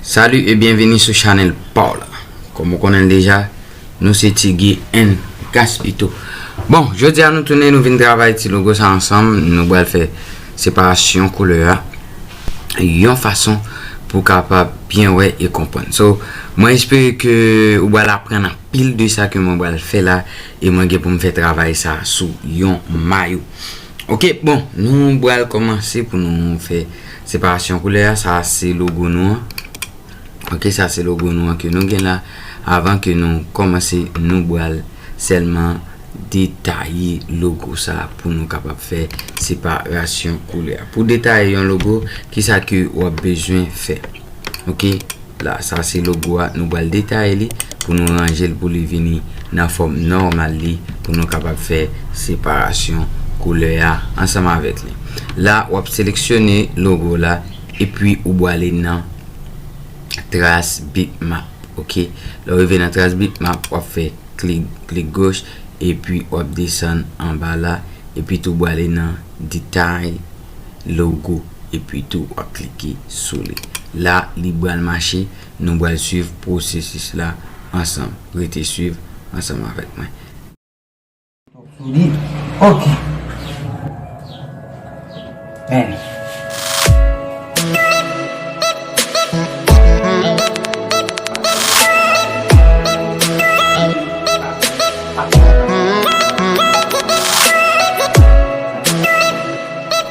Salut et bienvenue sou chanel paw la Kòm ou konnen l deja Nou se Ti Guy and Gaspito Bon jodia nou tounen nou vin travay ti logo sa ansanm Nou bal fè separasyon koulè a Yon fason pou kapab byen wè e konprann So mwen espere ke ou bal aprann anpil de sa ke mwen bal fè la E mwen gen pou m fè travay sa sou yon mayo Ok bon nou bal kòmanse pou nou fè Separasyon koulè a, sa se logo nou an. Ok, sa se logo nou an ke nou gen la. Avan ke nou kòmanse, nou bral sèlman detaye logo sa pou nou kapab fè separasyon koulè a. Pou detaye yon logo, ki sa ke wap bezwen fè? Ok. La sa se logo a nou pral detaye li pou nou ranjel pou li vini nan fòm nòmal li pou nou kapab fè separasyon koulè a ansanm avèk li la wap seleksyone logo la epi ou bwale nan tras bitmap ok lè ou rive nan tras bitmap wap fè klik goch epi wap desann anba la epi tou bwale nan detay logo. epi tou wap klike sou li la li bal mache nou bal swiv pwosesis la ansanm rete swiv ansanm avèk mwen. Ok men.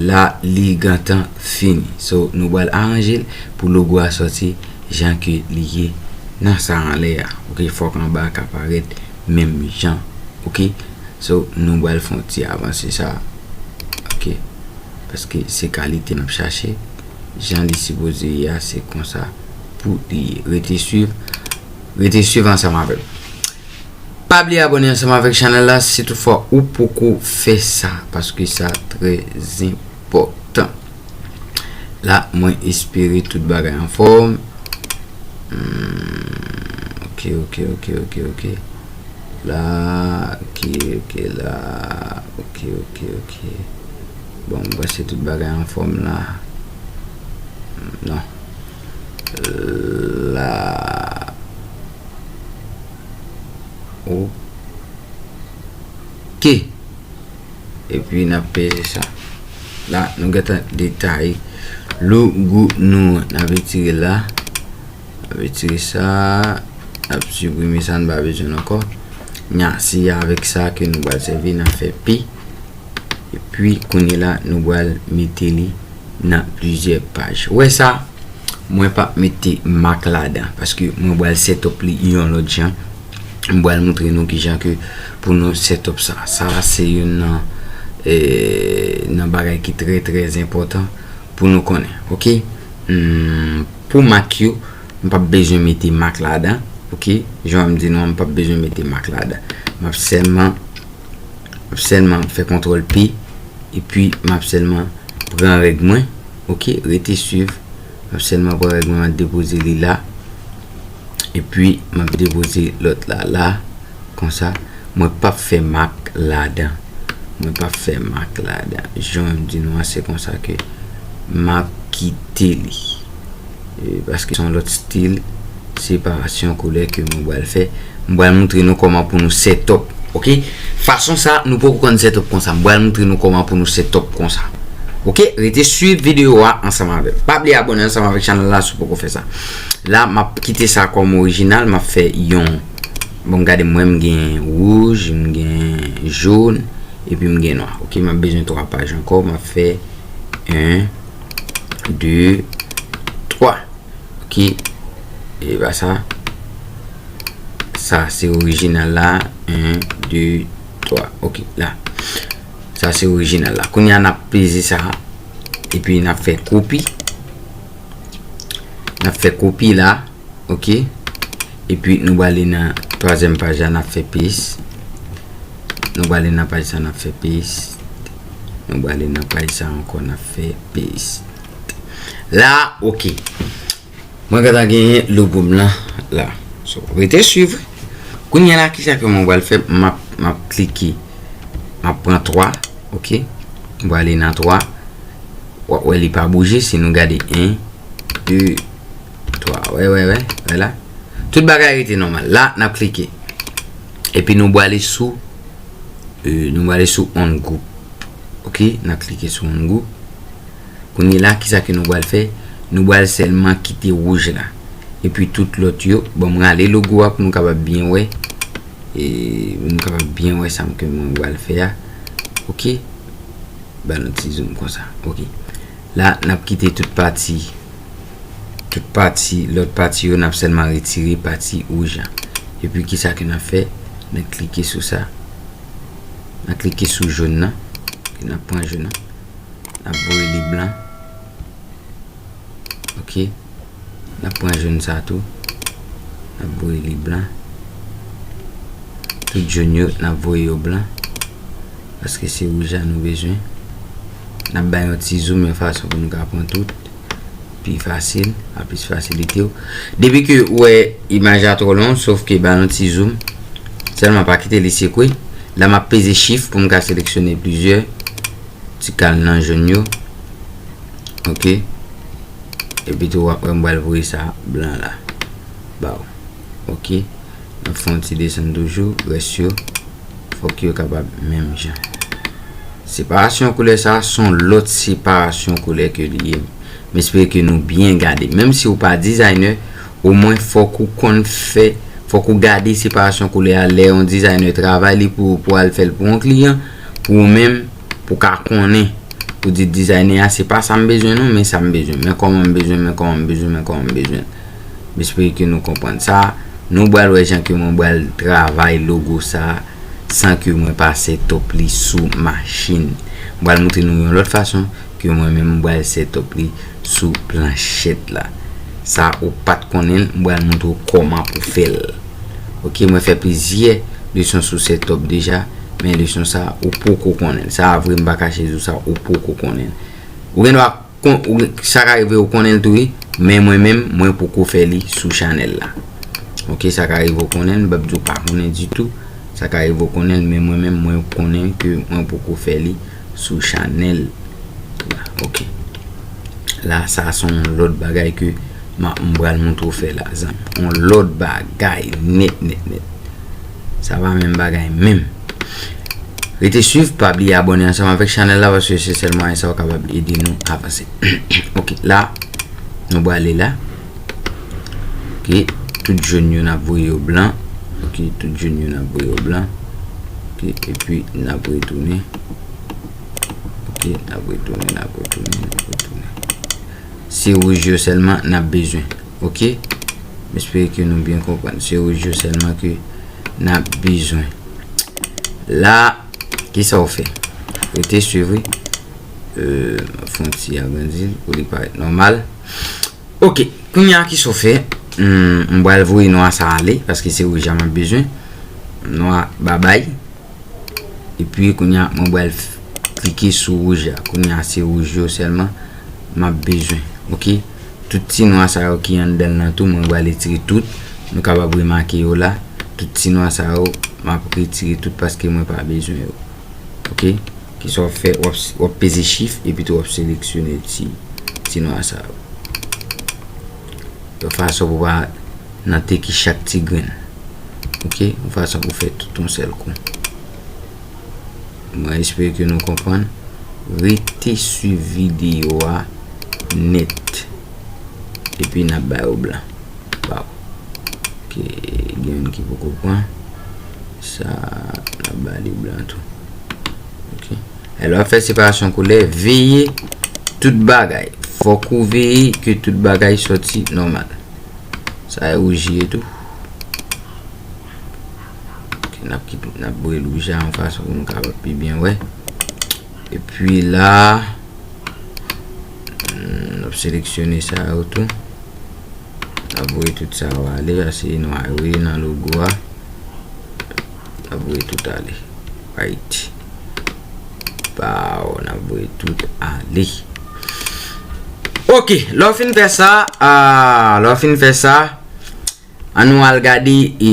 La li gentan fini. So nou bal aranjel pou logo a soti jan ke li ye nan sa anlè a ok fok anba a ka parèt menm jan ok so nou bal fè yon ti avanse sa ok paske se kalite nap chache jan li sipoze ye a se konsa pou li ye rete swiv rete swiv ansanm avèm. Pa bliye abone ansanm avèk chanèl la si tout fwa ou poko fè sa paske sa trè enpòtan la mwen espere tout bagay anfòm ok ok ok ok ok la ok ok la ok ok ok bon mwen panse tout bagay anfòm la nan la ok epi nap peze sa la nou gentan detay logo nou an nap retire la nap retire sa nap suprime sa nou pa bezwen l ankò ni a si avèk sa ke nou pral sèvi nap fè p epi kounye la nou pral mete li nan plizyè paj. Ou wè sa, mwen pa p mete mak ladan, paske mwen bal set up li yon lòt jan. M bal montre nou ki jan ke pou nou set up sa. Sa a se youn nan nan bagay ki trè trè enpòtan pou nou konnen. Ok. Pou mak yo, m pa p bezwen mete mak ladan. Ok. Jan m di nou an, m pa p bezwen mete mak ladan. M ap sèlman. Map selman fe kontrol p epi map selman pran reg mwen ok rete swiv map selman pran reg mwen map depoze li la epi map depoze lot la la konsa mwen pap fe mak ladan mwen pap fe mak ladan jan mwen di nou an se konsa ke map kite li. Paske son lòt stil separasyon koulè ke mwen bal fè. Mwen bal moutre nou kòman pou nou setop. Ok. Fason sa nou poko konn setop konsa. Mwen bal moutre nou kòman pou nou setop konsa. Ok. Rete swiv video a ansanm avèm. Pa bliye abone ansanm avèk chanèl la si w poko fè sa. La map kite sa kòm orijinal. Map fè yon. Bon m gade mwen m gen wouj. M gen joun. Epi m gen nwa. Ok. Map bezwen 3 paj ankò. Map fè 1. 2, 3. Ok. E ba sa. Sa se orijinal la. 1, 2, 3. Ok. La. Sa se orijinal la. Koun ya nap peze sa. E pi nap fe kopi. Nap fe kopi la. Ok. E pi nou bali nan 3 zem paja nap fe pez. Nou bali nan paja nap fe pez. Nou bale nan paj sa ankò na fè paste. La ok. Mwen gata genyen logo m lan la. So rete suiv. Kounye la kisa ke mwen bal fè map map klike. Map pran 3. Ok. Mwen bale nan 3. Wap wè li pa bouje si nou gade 1 2 3. Wè wè wè. Wè la. Tout bagay rete nòmal. La nap klike. Epi nou bale sou. Nou wale sou on group. Ok, nan klike sou on group. Kounye la, ki sa ke nou wale fè? Nou wale selman kite wouj la. E pi tout lot yo, bon mwen ale logo a pou nou kapab byen wè. E pou nou kapab byen wè sa mke mwen wale fè a. Ok, ba nou ti zoom konsa. Ok, la nap kite tout pati tout pati lòt pati yo nap sèlman retire pati wouj la epi kisa ke nap fè nap klike sou sa nap klike sou joun nan nap pran joun nan nap voye li blan ok nap pran joun sa tou nap voye li blan tout joun yo nap voye yo blan paske se wouj la nou bezwen Nap bay yon ti zoom yon fason pou nou ka pran tout pi fasil, a plis fasilite ou. Depi ke ou wè imaj la tro long, sof ke ba yon ti zoom. Selman pa kite li sekwe. La map peze shift pou m ka seleksyone plizyè ti kal nan joun yo. Ok. Epi tou wap wè m pral voye sa blan la. Baw. ok nap fè yon ti desann toujou rès yo fòk yo kapab menm jan separasyon koulè sa son lòt separasyon koulè ke li ye m espere ke nou byen gade menm si ou pa dizayne o mwen fòk ou konn fè fòk ou gade separasyon koulè a lè yon dizayne travay li pou ou pou al fèl pou yon kliyan pou ou menm pou ka konnen pou di dizayne a se pa sa m bezwen non men sa m bezwen men kòman m bezwen men kòman m bezwen men kòman m bezwen. M espere ke nou konprann sa. Nou bal wè jan ke mwen bal travay logo sa san ke mwen pase top li sou machin. M bal montre nou yon lòt fason ke mwen menm m bal se top li sou planchèt la. Sa ou pat konnen l, m bal montre ou koman pou fè l. Ok, mwen fè plizyè leson sou se top deja, men leson sa ou poko konnen l. Sa vre m pa kache di ou sa ou poko konnen l. Ou gen dwa. Sa ka rive ou konnen l tou wi Men mwen menm mwen poko fè li sou chanèl la Ok sa ka rive ou konnen l m pap di ou pa konnen ditou Sa ka rive ou konnen l men mwen menm mwen konnen ke mwen poko fè li sou chanèl la Ok La sa se yon lòt bagay ke m ap m pral montre ou fè la zanmi Yon lòt bagay nèt nèt nèt Sa pa menm bagay menm Rete swiv, pa bliye abone ansanm avèk chanèl la paske se sèl mwayen sa ou kapab ede nou avanse. Ok, la nou bwale la. Ok, tout joun yo nan voye yo blan. Ok, tout joun yo nan voye yo blan. Ok, epi nan voye tounen. Ok, nan voye tounen, nan voye tounen, nan voye tounen. Se wouj yo sèlman nan bezwen. ok m espere ke nou byen konprann se rouj yo selman ke nap bezwen la kisa ou fè rete swiv wi map fon ti agrandil pou li paret normal ok kounya kisa ou fè m bal voye nwa sa ale paske se rouj la map bezwen nwa babay epi kounya mwen bal klike sou rouj la kounya se rouj yo selman map bezwen ok. Tout ti nwa sa yo ki anndan l lan tou mwen bal etire tout. Nou kapab remake yo la. Tout ti nwa sa yo map retire tout paske mwen pa bezwen yo. Ok. Kisa wap fè? Wap peze chif epi tou wap seleksyone ti ti nwa sa yo. Yon fason pou pa nan teki chak ti grenn. Ok. Yon fason pou fè tout yon sèl kou. Mwen espere ke nou konprann. Rete swiv videyo a nèt. Epi n ap bay ou blan. Waw. Ok, gen youn ki poko pran. Sa a, n ap ba li blan tou. Ok. Lè w ap fè separasyon koulè, veye tout bagay. Fòk ou veye ke tout bagay soti nòmal. Sa a e wouj li ye tou. Nap boure louj la yon fason pou nou kapab pi byen wè. E pi la, nap seleksyone sa yo tou. Nap boure tout sa yo ale, ase yon a yo yon nan logo a. Nap boure tout ale. Right. Pa ou, nap boure tout ale. Ok, lò fin fè sa, lò fin fè sa. An nou al gade e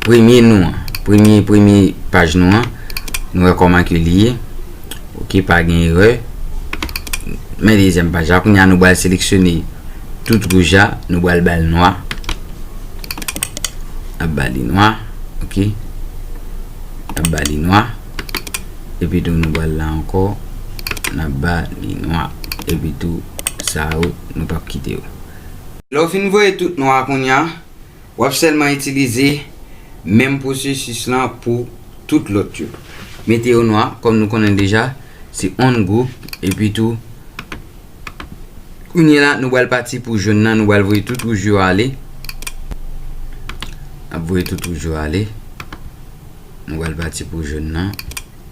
premye nou an. Premye premye paj nou an. Nou wè kòman ke li ye. Ok pa gen erè. Men dezyèm paj la. Kounye a nou bal seleksyone tout wouj la. Nou bal bal nwa. Nap ba li nwa. Ok. Nap ba li nwa. Epi tou nou bal la ankò. Nap ba li nwa. Epi tou sa yo nou pap kite yo. Lè w fin voye tout non a kounya w ap sèlman itilize menm pwosesis lan pou tout lòt yo. Mete yo nwa kòm nou konnen deja se on gwoup epi tou kounye la nou bal pati pou jòn nan nou bal voye tout wouj yo ale ap voye tout wouj yo ale nou bal pati pou jòn nan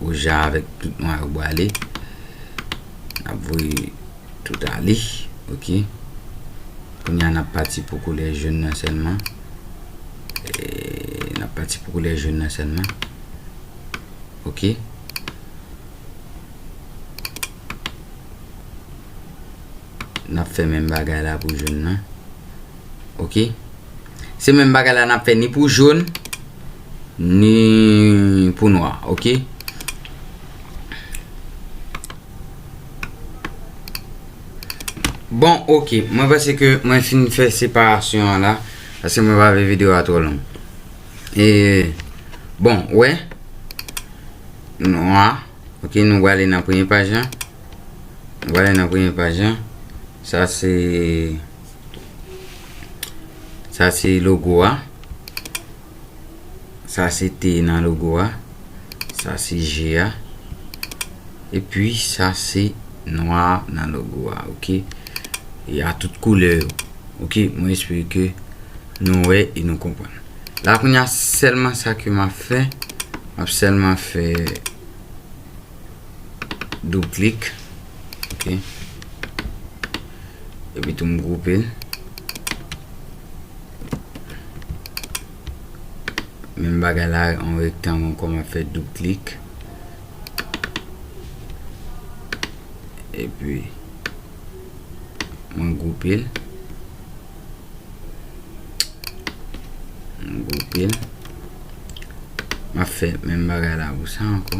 wouj a avèk tout nwa yo bwale ap voye Tout ale ok. Kounye a nap pati pou koulè jon nan sèlman. Nap pati pou koulè jon nan sèlman. Ok. Nap fè menm bagay la pou jon nan. Ok. Se menm bagay la nap fè ni pou jon. Ni pou nwa. Ok. Bon ok mwen panse ke mwen fin fè separasyon an la Paske mwen pa vle video a twò long E bon ou wè Nwa Ok nou wale nan premye paj la Nou wale nan premye paj la Sa se Sa se logo a Sa se T nan logo a. Sa se G a. E pi sa se nwa nan logo a. Ok. E a tout koulè yo. Ok. Mwen espere ke nou wè e nou konpwen. La koun ya selman sa ke ma fè. Map selman fè doub klik. Ok. E pi tou m groupe. Menm bagay la yon rektang ankò map fè doub klik epi mwen gwoupe l mwen gwoupe l map fè menm bagay la pou sa ankò.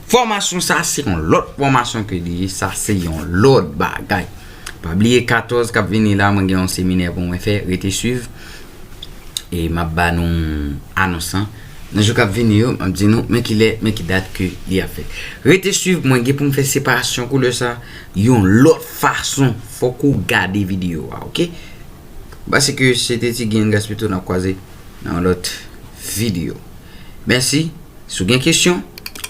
Fòmasyon sa se yon lòt fòmasyon ke li ye, sa se yon lòt bagay. Pa bliye 14 kap vini la mwen gen yon seminè pou mwen fè, rete swiv e map ba nou anons lan nan jou kap vini yo, map di nou men ki lè, men ki dat ke li ap fèt. Rete swiv mwen gen pou m fè separasyon koulè sa yon lòt fason, fòk ou gade videyo a ok. Basike se te ti Gingas pito nap kwaze nan yon lòt videyo. Mèsi, si w gen kesyon,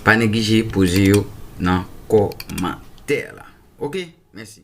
pa neglije poze yo nan kòmantè la. Ok, mèsi.